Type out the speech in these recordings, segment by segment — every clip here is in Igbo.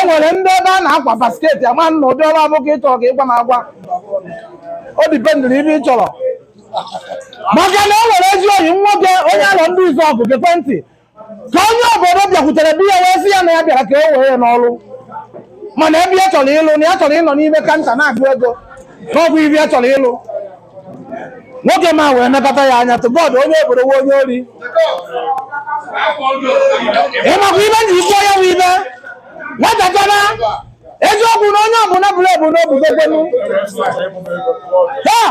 e nwere ndị ebe a na-akwa basketi ama m ụdị ọrụ ọ bụ ka ị chọrọ ka ị gwa m agwa o dipendịrị ibe ị chọrọ maka na e nwere ezi oyi nwoke onye alọ ndizuọgụ gekwe ntị ka onye obodo bịakwutere di ya wee sị ya na ya bịara ka e were ya n'ọrụ mana ebe ya chọrọ ịlụ na ya chọrọ ịnọ n'ime kanta na-agụ ego ka ọ bụ ibe ya chọrọ ịlụ nwoke m a wee nekọta ya anya tụ bọọdụ onye obodo nwe onye ori ịmakwa ibe ji kwuo ya bụ ibe nwatakịrị eziokwu na onye ọbụla bụrụ ebu n'obugogbenu taa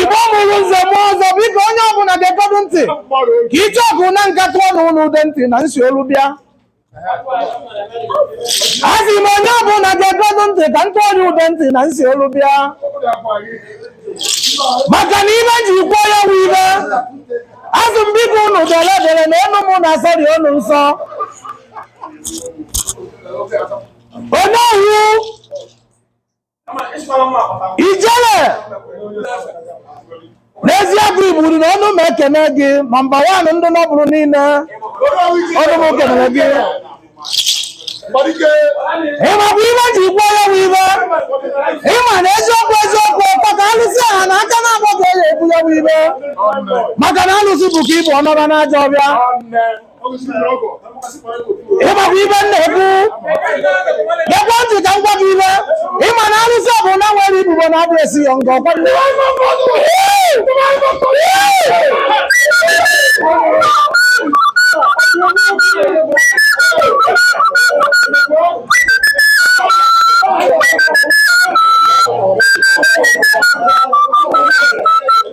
igbo mụrụ nze mụọ ọzọ biko onye ọbụla gekọdụ ntị ka ije ọgụ na nka tụọ na ụlọ ude ntị na nsi olu bịa asị m onye ọbụla gekọdụ ntị ka m tụọ onye ude ntị na nsi olu bịa maka na ibe ji kwuo ya bụ ibe asị m biko unu dere dere na enu m na-asọrị unu nsọ onye owu ijele n'ezie bụ igburu na ọnụ m ekene gị nọmba wan ndị nọbụrụ niile ọnụ m kenere gị ịmakwa ibe ji kwuo ya bụ ibe ịma na eziokwu eziokwu ọkwa ka alụsị aha na aka na-agba ka e ji ekwu ya bụ ibe maka na alụsị bukaa ibu ọ nọba n'ajọ ọfịa ịmakwa ibe m na-ekwu gekwa ntị ka m gwa gị ibe ịma na arụsị ọbụna nwere ibubo na abụ esi ya nga ọkwa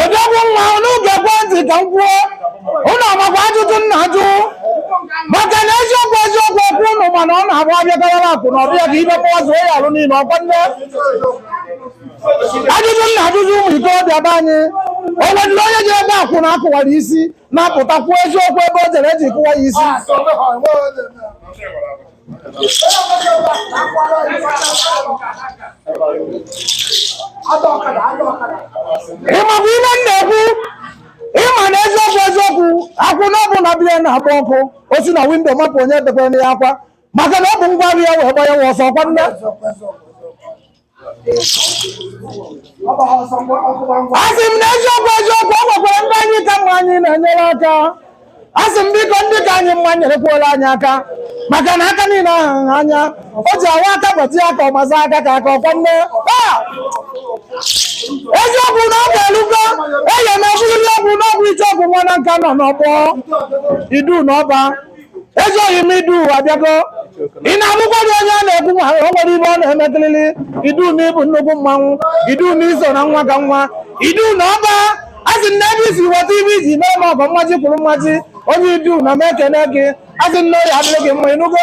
odogwu nwa unu gekwe ntị ka m kwuo unu amakwa ajụjụ m na-ajụ maka na eziokwu eziokwu ọkwa unu ma na ọ na-abụ abịakarịla akụ n'ọfịa ka ibe kpọwa zuo ya alụ niile ọkwa nne ajụjụ m na-ajụ ụmụ ikorobịa be anyị o nwedịrị onye jebe akwụna a kụwara isi na-apụta kwuo eziokwu ebe o jere e ji kụwa ya isi ịmakwa ihe m na-ekwu ịma na eziokwu eziokwu akwụna ọbụna be ya na-agba ọkụ o si na windo mapụ onye debere ya akwa maka na o bu ngwa afịa wee gbanye wa ọsọ ọkwa nne asị m na eziokwu eziokwu ọ nwekwara ndị anyị ka mma anyị na-enyere aka asị m biko ndị ka anyị mma nyerekwuola anyị aka maka na aka niile aha nha anya o ji awa aka gbatịa aka ọ mazie aka ka aka ọkwa nne Ah! eziokwu na oge erugo eye na ọbụrụli ọgwụ n'ọgwụ ichie ọgwụ nwa Nanka nọ n'ọgbọ idu na ọba ezi ọyị m idu abịago ị na-abụkwa dị onye a na-ekwu ma o nwere ibe ọ na-emekiriri idu na ị bụ nnukwu mmanwụ idu na i so na nwa ka nwa idu na ọba a sị na ebe i si weta ibe i ji mee ma ọgọ mmaji kwuru mmaji onye idu na m ekene gị a sị na ọ ya-adịrị gị mma ị nụgo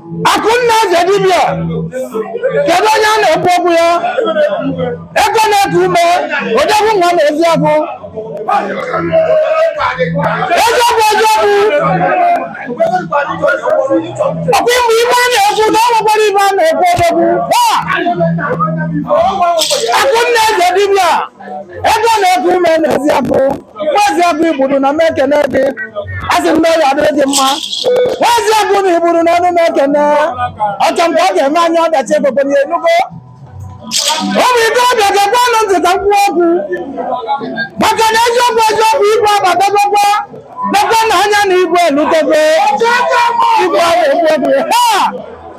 Akụnna Eze Dibịa, kedu onye a na-ekwu okwu ya? Ego na-eku ume, odogwu nwa na eziagụ. Eziokwu eziokwu, ọkwa ịmụ ibe a na-ekwu na ọ nwekwara ibe a na-ekwu odogwu. Ha! Akụnna Eze Dibịa. ego na-eku ume n'Eziagụ nwa Eziagụ igburu na m ekene gị asị m na ọ ya-adịrị gị mma nwa Eziagụ na igburu na ọnụ m ekene ọchọ mgbe ọ ga-eme anya ọdachi egogo na ị nụgo biko biko gewenụ ntị ka m kwuo okwu maka na eziokwu eziokwu igwe abatagokwa nekwanụ anya na igwe elutego igwe a na-ekwu okwu ya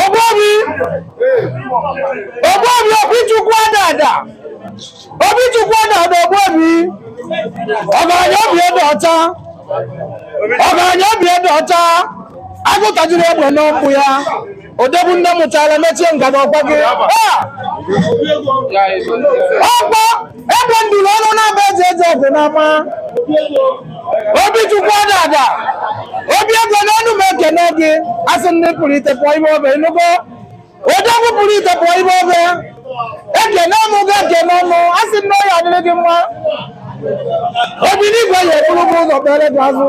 Ogbobi Ogbobi Obichukwu Adada Obichukwu Adada Ogbobi ọgaranya obi ede ọcha ọgaranya obi ede ọcha agụ tajiri egbe n'ọkpụ ya odogwu nne mụchara mechie ngada ọkwa gị Ah! ọkpọ egbe nduru ọnụ na-aba eji eji ọgụ n'ama Obichukwu Adada obi ego n'ọnụ m ekene gị asị ndị pụrụ ite pụọ ibe obe ị nụgo odogwu pụrụ ite pụọ ibe obe ekene nụ gị ekene nụ a sị m na ọ ya-adịrị gị mma obi n'igwe ya-eburu gị ụzọ kpere gị azụ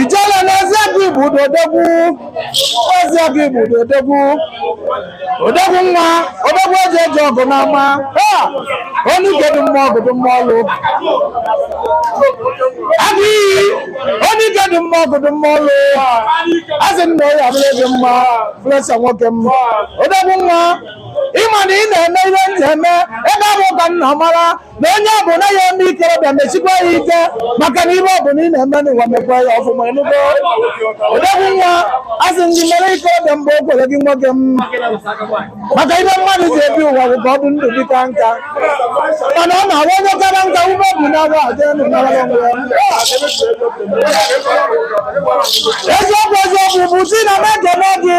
ijele n'ezie gị bụ odogwu n'ezie gị bụ odogwu odogwu nwa odogwu eji eje ọgụ n'ama ha onye ike dị mma ọgụ dị mma ọlụ agụ iyi onye ike dị mma ọgụ dị mma ọlụ asị m na ọya abụrụ gị mma Flesa nwoke m odogwu nwa ịma na ị na-eme ihe m na-eme ebe ọ bụ ka nna mara na onye ọ bụla ya eme ikorobịa mesikwa ya ike maka na ibe ọ bụla ị na-eme n'ụwa mekwa ya ọfụma enugo odogwu nwa asị m gị mere ikorobịa mgbe o kwere gị nwoke m maka ibe mmadụ ji ebi ụwa bụ ka ọ dị ndụ dịka nka mana ọ na-awa onye kara nka ume obi na-awa aja enu nara onwe ya eziokwu eziokwu bụ sị na m ekele gị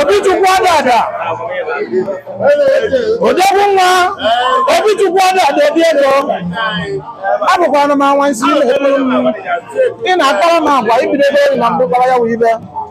Obichukwu Adada odogwu nwa Obichukwu Adada obi ego abụkwa anụmanwa sị m ị na-akpara m agwa ibido ebe na mbụ kpara ya wee ibe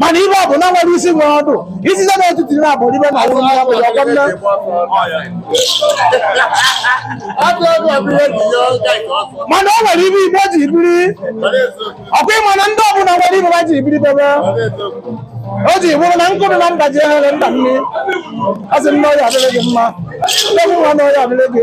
mana ibe ọbụla nwere isi nwere ọdụ isi na etiti na abụ ibe na ụlọ ya bụ ya ọkwa nne mana o nwere ibe igbo ji biri ọkwa ịma na ndị ọbụla nwere ibe ha ji biri bụ ibe o ji bụrụ na nkụ dụ na mba ji eghere mba nni a sị m na ọya adịrị gị mma odogwu nwa na ọya adịrị gị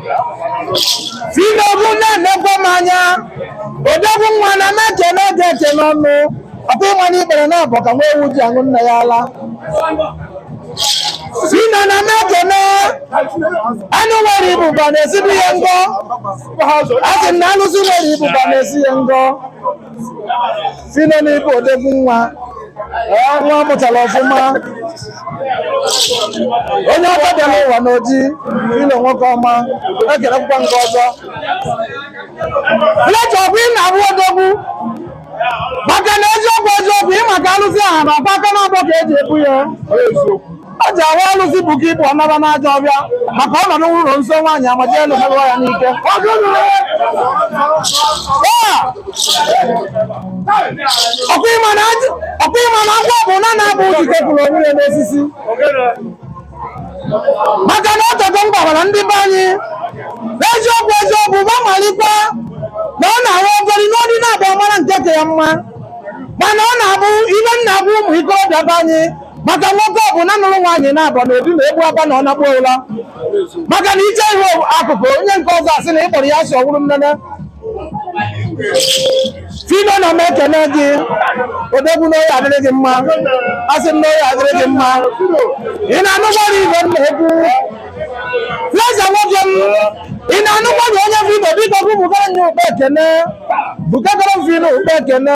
sị m gị na-enekwa m anya odogwu nwa na m na-ekene gị ekene n'ọnụ ọkwa ịma na ikpere naabọ ka nwa ewu ji aṅụ nne ya ala sị na ana m ekene anụ nwere ibuba na-esibi ya ngọ asị m na alụsị nwere ibuba na-esi ya ngọ sị na ị bụ odogwu nwa ee, nwa mụtara ọfụma onye akọ dị n'ụwa n'oji ilo nwoke ọma ekelekwa nke ọzọ Fletcher ọkwa ị na-abụ odogwu maka na eziokwu eziokwu ị maka alụsị aha na ọkwa aka naabọ ka eji ebu ya ọ ji ahụ alụsị bụ ka ịbụ ọnaba n'ajọ ọbịa maka ọnọdụ nwụrụ nso nwaanyị amaji elu merụọ ya n'ike ọkwa ị ma na ajụ- ọkwa ị ma na ngwa bụ na na-abụ uji kepụrụ onwe ya n'osisi maka na o teka m gwara ndị be anyị n'eziokwu eziokwu ma malikwa na ọ na-abụ ogori nụọ di naabọ ọ mara nke ka ya mma mana ọ na-abụ ibe nna bụ ụmụ ikorobịa be anyị maka nwoke ọbụna nụrụ nwaanyị naabọ na obi ma egbu aba na ọ nakpọ ụla maka na i chee ihu akụkụ onye nke ọzọ asị na ị kpọrọ ya asị ọ wụrụ nnene Phyno na m ekene gị odogwu na ọ ya-adịrị gị mma asị m na ọ ya-adịrị gị mma ị na-anụgbara igwe m na-ekwu Blaze nwoke m ị na-anụgbara onye Phyno biko bụ bugara nye ụkpa ekene bugaara m Phyno ụkpa ekene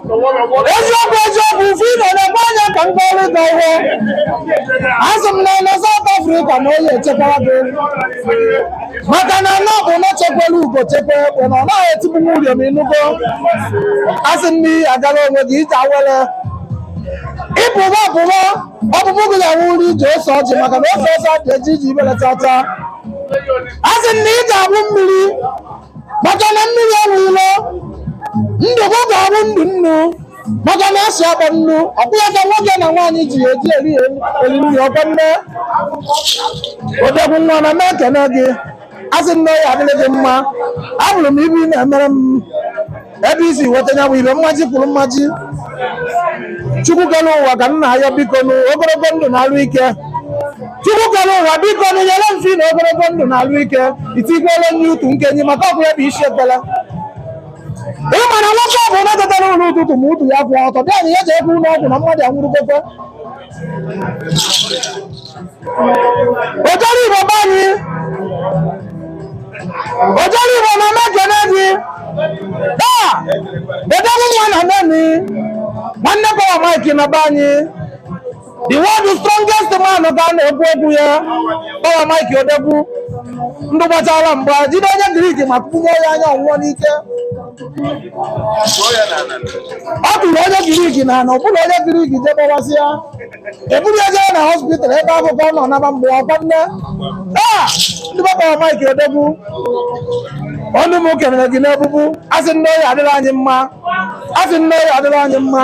eziokwu eziokwu Phyno nekwa anya ka m gọọrọ gị ọfọ asị m na na South Africa na ọ ya-echekwa gị maka na ana ọbụna chekwara ugo chekwa egbe na ọ naghị etigbu nwa ụrịọm ị nụgo asị m na ị ya-agara onwe gị ije awele ị pụba ọpụba ọpụpụ gị ga-awụrụ ije ose ọjị maka na ose ọjị adị eje ije ifele cha cha asị m na ị ga-abụ mmiri maka na mmiri enwe ilo ndụ gị ga-abụ ndụ nnu maka na asị akpọ nnu ọkwa ya ka nwoke na nwaanyị ji ya eji eri nri ọkwa nne odogwu nwa na m ekene gị asị na ọ ya-adịrị gị mma afụrụ m ife ị na-emere m ebe i si nweta ya bụ ife mmaji kwuru mmaji chukwu kere ụwa ka m na-ayọ biko nụ ogologo ndụ na alụ ike chukwu kere ụwa biko nụ nyere m Phyno ogologo ndụ na alụ ike itikwele nye utu nkeni maka ọkwa ya bụ isi ekpele ị mara nwoke ọbụna tetara ụla ụtụtụ ma utu ya akwụ ọtọ di anyị ya jekwe ụlọ ọgwụ na mmadụ anwụrụgokwe Ojoro Igbo be anyị Ojoro Igbo na m ekene gị taa odogwu nwa na Neni nwanne Power Mike na be anyị the world strongest man ka a na-ekwu okwu ya Power Mike odogwu ndụ gbachara mgba jide onye Greek ma kpụnye ya anya ọ nwụọ n'ike ọ tụrụ onye Greek na ana ọbụla onye Greek je gbawasịa eburu ya jee na hospital ebe ahụ ka ọ nọ naba mgbe ọkwa nne taa ndị Power Mike odogwu ọnụ m kelere gị n'ebubu asị na ọ ya-adịrị anyị mma asị na ọ ya-adịrị anyị mma